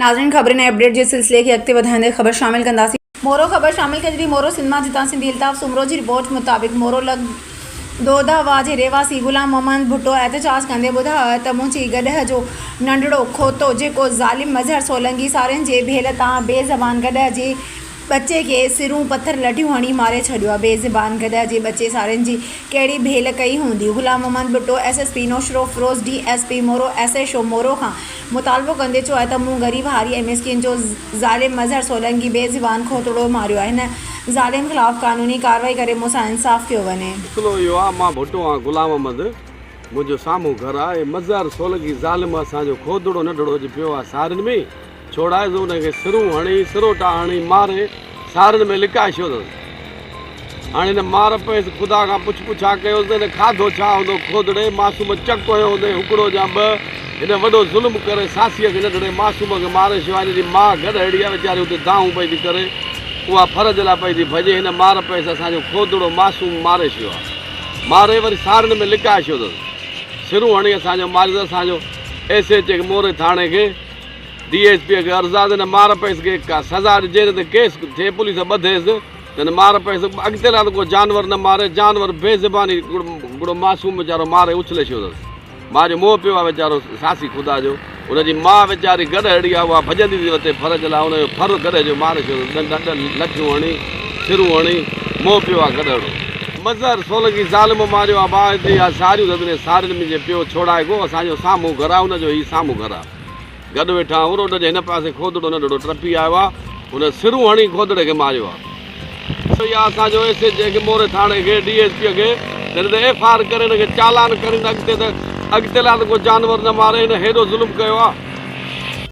ناظرين خبرين ۽ اپڊيٽ جي سلسلي کي اڳتي وڌائيندي خبر شامل ڪنداسين. مورو خبر شامل ڪجي ٿي مورو سنڌ مان جتان سنڌي الطاف سومرو جي رپورٽ مطابق مورو لڳ دودها واھ جي رهواسي غلام محمد ڀٽو احتجاج ڪندي ٻڌايو آهي ته منهنجي گڏهه جو ننڍڙو کوتو جيڪو ظالم مظهر سولنگي سارين جي ڀيل تان بي زبان گڏهه جي ٻچي کي سرون پٿر لٺيون هڻي ماري ڇڏيو آهي بي زبان گڏهه جي ٻچي سارين جي ڪهڙي ڀيل ڪئي هوندي Ghulam Muhammad Bhutto S S P Naushahro Feroze D S P Moro S H O Moro کان مطالبو ڪندي چيو آهي ته مون غريب هاري ۽ مسڪين جو ظالم مظهر سولنگي بي زبان کوتڙو ماريو آهي هن ظالم خلاف قانوني ڪارروائي ڪري مون سان انصاف ڪيو وڃي. مسئلو اهو آهي مان ڀٽو آهيان غلام احمد منهنجو سامهون گهر آهي ۽ مظهر سولنگي ظالم اسان جو کوتڙو نڍڙو اڄ پيو آهي سارين ۾ ڇوڙائي زو ان کي سرون هڻي سروٽا هڻي ماري سارن ۾ لڪائي ڇڏيوس. هاڻي هن مار پيس خدا کان پڇ پڇا ڪيوس ته هن کاڌو ڇا هوندو؟ کوڏڙي معصوم چڪ هنيو هوندئي هڪڙو يا ٻه. هن وڏو ظلم ڪري ساسيء کي ننڍڙي معصوم کي ماريو سواء هن جي ماء گڏهڙي آهي ويچاري اتي دانهون پئي ٿي ڪري اها فرج لاء پئي ٿي ڀڄي هن مار پيس اسان جو کوڏڙو معصوم ماري ڇڏيو آهي ماري وري سارن ۾ لڪائي ڇڏيو اٿس سرون هڻي اسان جو ماريو اٿس اسان جو ايس ايچ اي کي موري ٿاڻي کي ڊي ايس پي کي عرض آ ته هن مار پيس کي ڪا سزا ڏجي نه ته ڪيس ٿئي پوليس ٻڌيس ته هن مار پيس اڳتي لاٿو ڪو جانور نه ماري جانور بي زباني ڪڙو معصوم ويچارو ماري اڇلي ڇڏيو اٿس ماء جو موهه پيو آ ويچارو ساسي خدا جو ان جي ماء ويچاري گڏهڙي آ اها ڀڄندي ٿي وتي ڦر جي لاء ان جو ڦر گڏهه جو ماري ڇڏيو اٿس ڏنڊ ڏنڊ لٺيون هڻي ڇرون هڻي موهه پيو آ گڏهڙو. مظهر سولنگي ظالم ماريو آ ماء جي آ ساريون ٿڌ ۾ سارين منهنجي پيو ڇوڙائي گو اسان جو سامهون گهر آ ان جو هي سامهون گهر آ. گڏ ويٺا آهيون. روڊ جي هن پاسي کوڌڙو ننڍڙو ٽپي آيو آهي. هن سرون هڻي کوڌڙي کي ماريو آهي. اهو ئي آهي اسان جو ايس ايچ اي کي موري ٿاڻي کي ڊي ايس پي کي جڏهن ته ايف آر ڪري هن کي چالان ڪرين ته اڳتي ته اڳتي لاء ته ڪو جانور نه ماري هن هيڏو ظلم ڪيو آهي.